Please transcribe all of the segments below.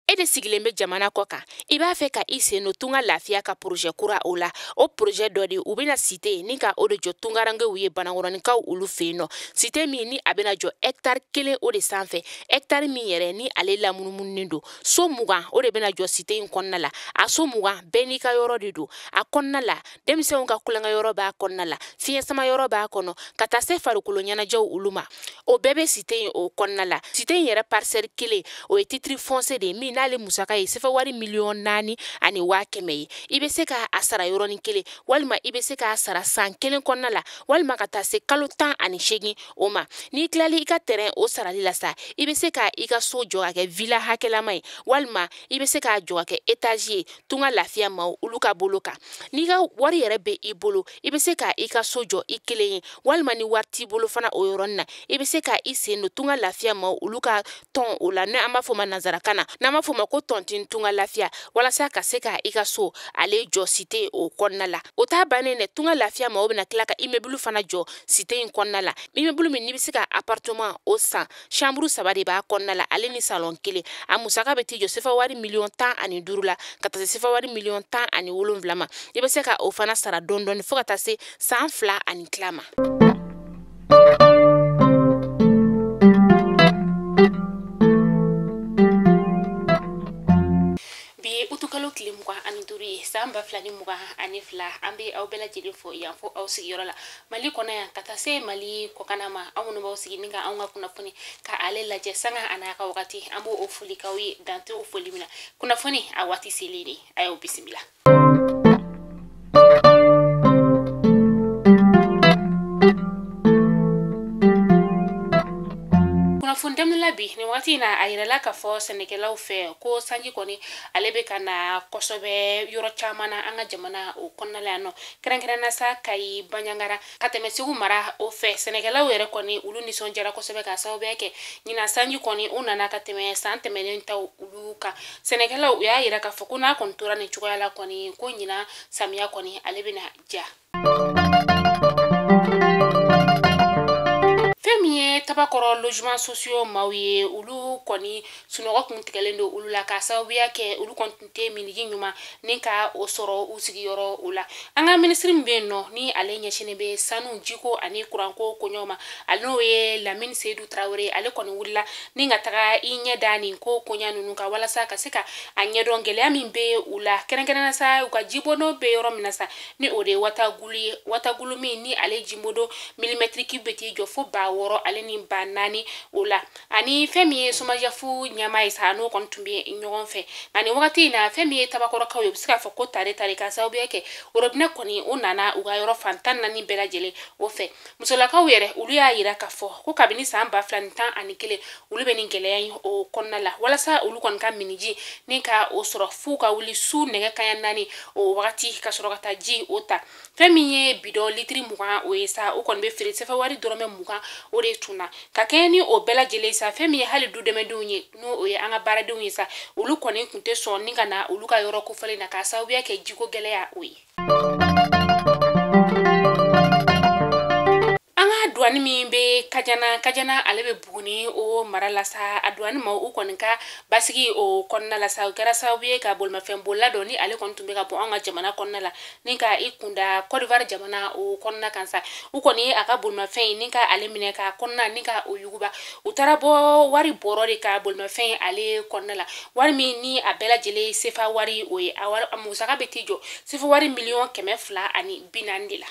e de sigilen bɛ jamana kɔ kan i b'a fɛ ka i sen don tunga lafiya ka porozɛ kura o la o porozɛ dɔ de u bɛna site ni ka o de jɔ tungarankew ye banankɔrɔninkaw olu fɛ yen nɔ site min ni a bɛna jɔ hɛkitari kelen o de sanfɛ hɛkitari min yɛrɛ ni ale lamunumununen don so mugan o de bɛna jɔ site in kɔnɔna la a so mugan bɛɛ n'i ka yɔrɔ de don a kɔnɔna la denmisɛnw ka tulonkɛyɔrɔ b'a kɔnɔna la fiɲɛ sama yɔrɔ b'a kɔnɔ ka taa se farikolo ɲɛnajɛw olu ma o bɛɛ bɛ site in o kɔnɔna la site in yɛrɛ parisɛli kelen o ye titiri fɔnsiye de ye min n'ale musaka ye sefa wari miliyɔn naani ani waa kɛmɛ ye i bɛ se ka a sara yɔrɔnin kelen walima i bɛ se k'a sara san kelen kɔnɔna la walima ka taa se kalo tan ani seegin o ma n'i tilala i ka tɛrɛn o sarali la sa i bɛ se ka i ka so jɔ ka kɛ vila hakɛlama ye walima i bɛ se k'a jɔ ka kɛ etazi ye tunga lafiya maaw olu ka bolo kan n'i ka wari yɛrɛ be i bolo i be se ka i ka so jɔ i kelen ye walima ni wari t'i bolo fana o yɔrɔnin na i be se ka i sen don tunga lafiya maaw olu ka tɔn o la ni an b'a fɔ ma nansarakan na n'an b'a fɔ ma ko tɔntin tunga lafiya walasa ka se ka i ka so ale jɔ site o kɔnɔna la o t'a bannen dɛ tunga lafiya maaw bena tila ka imebulu fana jɔ site in kɔnɔna la imebulu min n'i be se ka aparteman o san samburu saba de b'a kɔnɔna la ale ni salɔn kelen a musaka bɛ t'i jɔ sefa wari miliyɔn tan ani duuru la ka taa se sefa wari miliyɔn tan ani wolonwula ma i bɛ se ka o fana sara dɔɔni dɔɔni fo ka taa se san fila ani tila ma bi ye utukalo tile mugan ani duuru ye san ba fila ni mugan ani fila an be aw bɛɛ lajɛlen fo yan fo aw sigiyɔrɔ la mali kɔnɔ yan ka taa se mali kɔkanna ma aw minnu b'aw sigi ni ka anw ka kunnafoni ka ale lajɛ sanga an'a ka wagati an b'o foli k'aw ye dan tɛ o foli min na kunnafoni a waati selen de a y'aw bisimila kunnafoni daminɛ la bi nin wagati in na a yirala k'a fɔ sɛnɛkɛlaw fɛ ko sanji kɔni ale bɛ ka na kosɛbɛ yɔrɔ caman na an ka jamana o kɔnɔna la yan nɔ kɛrɛnkɛrɛnna sa kayi banjagara ka tɛmɛ segu mara o fɛ sɛnɛkɛlaw yɛrɛ kɔni olu nisɔndiyara kosɛbɛ ka sababuya kɛ ɲinan sanji kɔni o nana ka tɛmɛ san tɛmɛnen ta olu kan sɛnɛkɛlaw u y'a yira k'a fɔ ko n'a kɔni tora nin cogoya la kɔni ko ɲinan samiya kɔni ale bɛna diya fɛn min ye tabakɔrɔ logement sociaux maaw ye olu kɔni sunɔgɔ kun tigɛlen don olu la ka sababuya kɛ olu kɔni tɛ minniji ɲuman ni ka o sɔrɔ u sigiyɔrɔ o la an ka minisiri min bɛ yen nɔ ni ale ɲɛsinnen bɛ sanu jiko ani kuranko koɲɔgɔn ma ale n'o ye lamini seyidu tarawele ale kɔni wulila ni ka taga i ɲɛ da nin ko koɲɛ ninnu kan walasa ka se ka a ɲɛdɔn gɛlɛya min bɛ u la kɛrɛnkɛrɛnna sa u ka jibondon bɛ yɔrɔ min na sa ni o de ye wutakulu ye wutakulu min ni ale jibondon milimɛtiri kibu bɛ t'i jɔ fo ba wɔɔrɔ ale ni ba naani o la ani fɛn min ye somajɛpu ɲɛmaa ye sa n'o kɔni tun bɛ ɲɔgɔn fɛ nka nin wagati in na fɛn min ye tabakɔrɔkaw ye u bɛ se k'a fɔ ko tare tare k'a sababuya kɛ orobinɛ kɔni o nana u ka yɔrɔ fan tan naani bɛɛ lajɛlen o fɛ musolakaw yɛrɛ olu y'a yira k'a fɔ ko kabini san ba fila ni tan ani kelen olu bɛ nin gɛlɛya in o kɔnɔna la walasa olu kɔni ka minniji ni ka o sɔrɔ f'u ka wuli su nɛgɛ kaɲa naani o wagati ka sɔrɔ ka taa ji o ta fɛn min ye bidɔn litiri mugan o ye sa o kɔni bɛ feere sefa wari dɔrɔmɛ mugan o de tun na ka kɛɲɛ ni o bɛɛ lajɛlen sa fɛn min ye hali du dɛmɛdenw ye n'o ye an ka baaradenw ye sa olu kɔni tun tɛ sɔn ni ka na olu ka yɔrɔ kofɔlen na k'a sababuya kɛ jiko gɛlɛya o ye duwani min bɛ kajana kajana ale bɛ buguni o mara la sa a duwani maaw kɔni ka basigi o kɔnɔna la sa o kɛra sababu ye ka bolimafɛn bolila dɔ ni ale kɔni tun bɛ ka bɔ an ka jamana kɔnɔna la ni ka i kun da kɔdiwari jamana o kɔnɔna kan sa u kɔni ye a ka bolimafɛn in ni ka ale minɛ k'a kɔnɔna ni ka o yuguba u taara bɔ wari bɔrɔ de kan bolimafɛn in ale kɔnɔna la wari min ni a bɛɛ lajɛlen sefa wari o ye a musaka bɛ t'i jɔ sefa wari miliyɔn kɛmɛ fila ani bi naani de la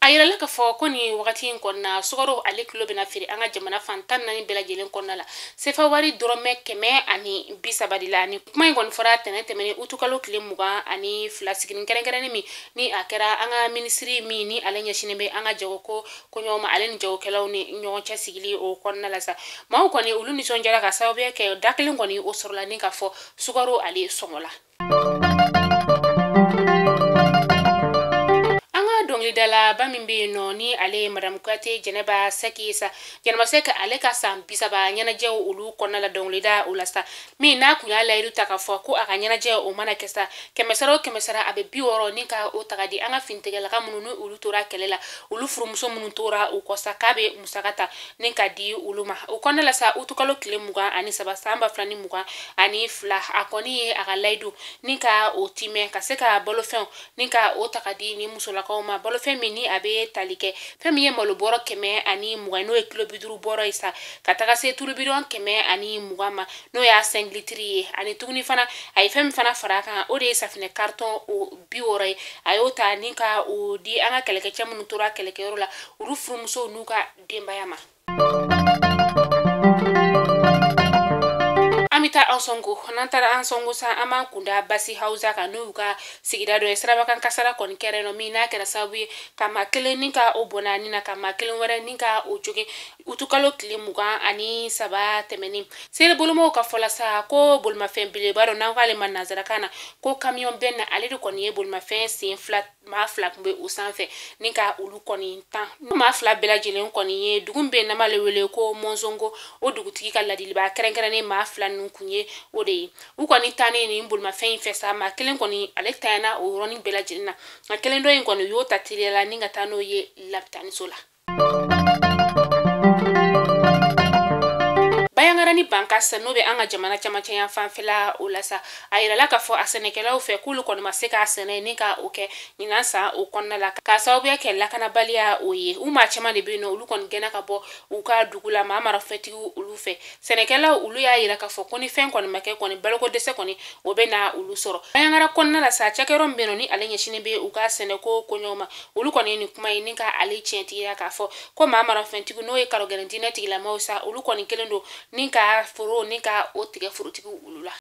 a yirala k'a fɔ ko nin wagati in kɔnɔna sukaro ale kilo bɛna feere an ka jamana fan tan naani bɛɛ lajɛlen kɔnɔna la sefa wari dɔrɔmɛ kɛmɛ ani bi saba de la ni kuma in kɔni fɔra tɛnɛn tɛmɛnen utukalo tile mugan ani fila siginin kɛrɛnkɛrɛnnen min ni a kɛra an ka minisiri min ni ale ɲɛsinnen bɛ an ka jagoko koɲɔgɔn ma ale ni jagokɛlaw ni ɲɔgɔn cɛ sigili o kɔnɔna la sa maaw kɔni olu nisɔndiyara k'a sababuya kɛ da kelen kɔni o sɔrɔla ni ka fɔ sukaro ale sɔngɔ la dɔnkilidalaba min bɛ yen nɔ ni ale ye madamu kuyate jɛnɛba sɛki ye sa jɛnɛba sɛki ale ka san bisaba ɲɛnajɛw olu kɔnɔna la dɔnkilida o la sa min n'a kun y'a layidu ta k'a fɔ ko a ka ɲɛnajɛ o mana kɛ sa kɛmɛ sara o kɛmɛ sara a bɛ bi wɔɔrɔ ni ka o ta ka di an ka finitigilaka minnu ni olu tora kɛlɛ la olu furumuso minnu tora u kɔ sa k'a bɛ musaka ta ni ka di olu ma o kɔnɔna la sa utukalo tile mugan ani saba san ba fila ni mugan ani fila a kɔni ye a ka layidu ni ka o timɛ ka se ka balofɛnw ni ka o ta ka di nin musolakaw ma balofɛn min ni a bɛ tali kɛ fɛn min ye malo bɔrɔ kɛmɛ ani mugan n'o ye kilo bi duuru bɔrɔ ye sa ka taga se tulubidɔn kɛmɛ ani mugan ma n'o y'a sɛnki litiri ye ani tuguni fana a ye fɛn min fana fara a kan o de ye safinɛ karitɔn o bi wɔɔrɔ ye a y'o ta ni ka o di an ka kɛlɛkɛcɛ minnu tora kɛlɛkɛyɔrɔ la olu furumusow n'u ka denbaya ma an bɛ taa ansongo n'an taara ansongo sa an b'an kun da bazi hawusa kan n'o y'u ka sigida dɔ ye sirabakan kasara kɔni kɛra nɔ min n'a kɛra sababu ye ka maa kelen ni ka o bɔnɛ a ni na ka maa kelen wɛrɛ ni ka o jogin utukalo tile mugan ani saba tɛmɛnen seere bolomaw ka fɔ la sa ko bolimafɛn belebeleba dɔ n'an k'ale ma nanzarakan na ko kamiyɔn bɛn ale de kɔni ye bolimafɛn sen fila maa fila kun bɛ o sanfɛ ni ka olu kɔni tan maa fila bɛɛ lajɛlen kɔni ye dugu bɛ n'an b'ale wele ko mɔnsongo o dugutigi ka ladilibaa kɛrɛnkɛrɛnnen maa fila ninnu kun ye o de ye u kɔni tannen nin bolimafɛn in fɛ sa maa kelen kɔni ale tanyana o yɔrɔnin bɛɛ lajɛlen na nka kelen dɔ in kɔni u y'o ta teliya la ni ka taa n'o ye labitaniso la bandiagara ni bankass n'o bɛ an ka jamana camancɛ yan fanfɛla o la sa a yirala k'a fɔ a sɛnɛkɛlaw fɛ k'olu kɔni ma se ka sɛnɛ ni ka o kɛ ɲinan san o kɔnɔna la k'a sababuya kɛ lakanabaliya o ye u maa caman de bɛ yen nɔ olu kɔni gɛnna ka bɔ u ka dugu la maa marafɛntigiw olu fɛ sɛnɛkɛlaw olu y'a yira k'a fɔ ko ni fɛn kɔni ma kɛ kɔni baloko dɛsɛ kɔni o bɛ na olu sɔrɔ bandiagara kɔnɔna la sa cakɛyɔrɔ min bɛ yen nɔ ni ale ɲɛsinnen bɛ u ka sɛnɛko koɲɛw ma olu kɔni ye nin kuma in ni ka ale tiɲɛtigiya k'a fɔ ko maa marafɛntigiw n'o ye kalogɛlɛn diinɛ tigilamaw sa olu kɔni kɛlen don ni ka foro ni ka o tigɛ forotigiw olu la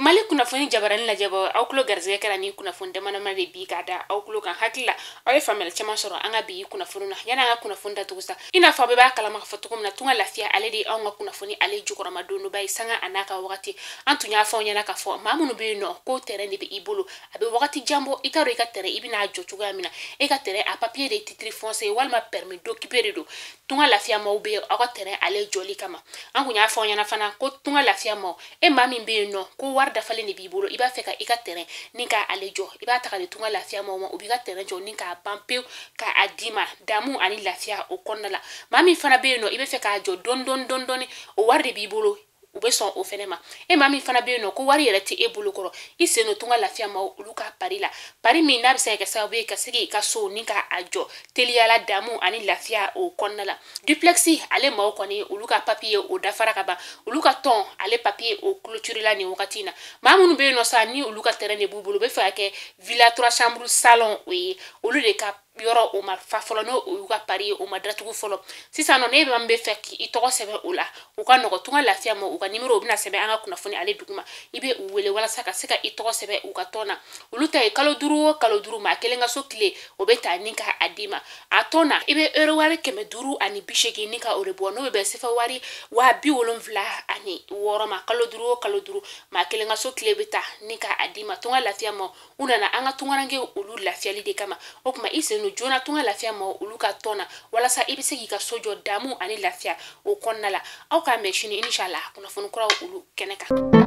mali kunnafoni jabarani lajɛbaaw aw tulo garisɛgɛ kɛra nin kunnafoni damadama de bi k'a da aw tulo kan hakili la aw ye faamuyali caman sɔrɔ an ka bi kunnafoni na yanni an ka kunnafoni datugu sa i n'a fɔ aw bɛɛ b'a kalama k'a fɔ cogo min na tunga lafiya ale de ye anw ka kunnafoni ale jukɔrɔmadondonba ye sanga a n'a ka wagati an tun y'a fɔ aw ɲɛna k'a fɔ maa minnu bɛ yen nɔ ko tɛrɛn de bɛ i bolo a bɛ wagati jan bɔ i t'a dɔn i ka tɛrɛn i bɛna jɔ cogoya min na e ka tɛrɛn a papiye de ye titre foncier walima permis d'occuper de don tunga lafiya maaw bɛ aw ka tɛrɛn ale jɔli kama an tun y'a fɔ aw ɲɛna fana ko tunga lafiya maaw e maa min bɛ yen nɔ ko wari dafalen de b'i bolo i b'a fɛ ka i ka tɛrɛn ni ka ale jɔ i b'a ta ka di tunga lafiya maaw ma u b'i ka tɛrɛn jɔ ni k'a ban pewu ka a d'i ma damu ani lafiya o kɔnɔna la maa min fana bɛ yen nɔ i b'a fɛ k'a jɔ dɔɔni dɔɔni dɔɔni dɔɔni o wari de b'i bolo u bɛ sɔn o fɛnɛ ma e maa min fana bɛ yen nɔ ko wari yɛrɛ tɛ e bolo kɔrɔ i sen don tunga lafiya maaw olu ka pari la pari min n'a bɛ se ka kɛ sababu ye ka se k'i ka so ni ka a jɔ teliyala damu ani lafiya o kɔnɔna la duplexi ale maaw kɔni olu ka papiye o dafara ka ban olu ka tɔn ale papiye o clôturela nin wagati na maa minnu bɛ yen nɔ sa ni olu ka terrain de b'u bolo u b'a fɛ ka kɛ villa trois chambre salon o ye olu de ka yɔrɔ o ma fa fɔlɔ n'o olu ka pari ye o ma datugu fɔlɔ sisan nɔ n'e maa min b'a fɛ k'i tɔgɔ sɛbɛn o la a ka nɔgɔn tunga lafiya maaw ka nimero u bɛna sɛbɛn an ka kunnafoni ale duguma i bɛ u wele walasa ka se ka i tɔgɔ sɛbɛn u ka tɔn na olu ta ye kalo duuru o kalo duuru maa kelen ka so kile o bɛ ta ni ka a d'i ma a tɔn na i bɛ euro wari kɛmɛ duuru ani bi seegin ni ka o de bɔ n'o bɛ sefa wari waa bi wolonfila ani wɔɔrɔ ma kalo duuru o kalo duuru maa kelen ka so kile bɛ ta ni ka a d'i ma tunga lafiya maaw nana an ka tungaranke olu lafiyali de kama o tuma i sen don joona tunga lafiya maaw olu ka tɔn na walasa i bɛ se k'i ka so jɔ damu ani lafiya o kɔnɔna la aw k'an bɛn sini inshallah kunnafoni kuraw olu kɛnɛ kan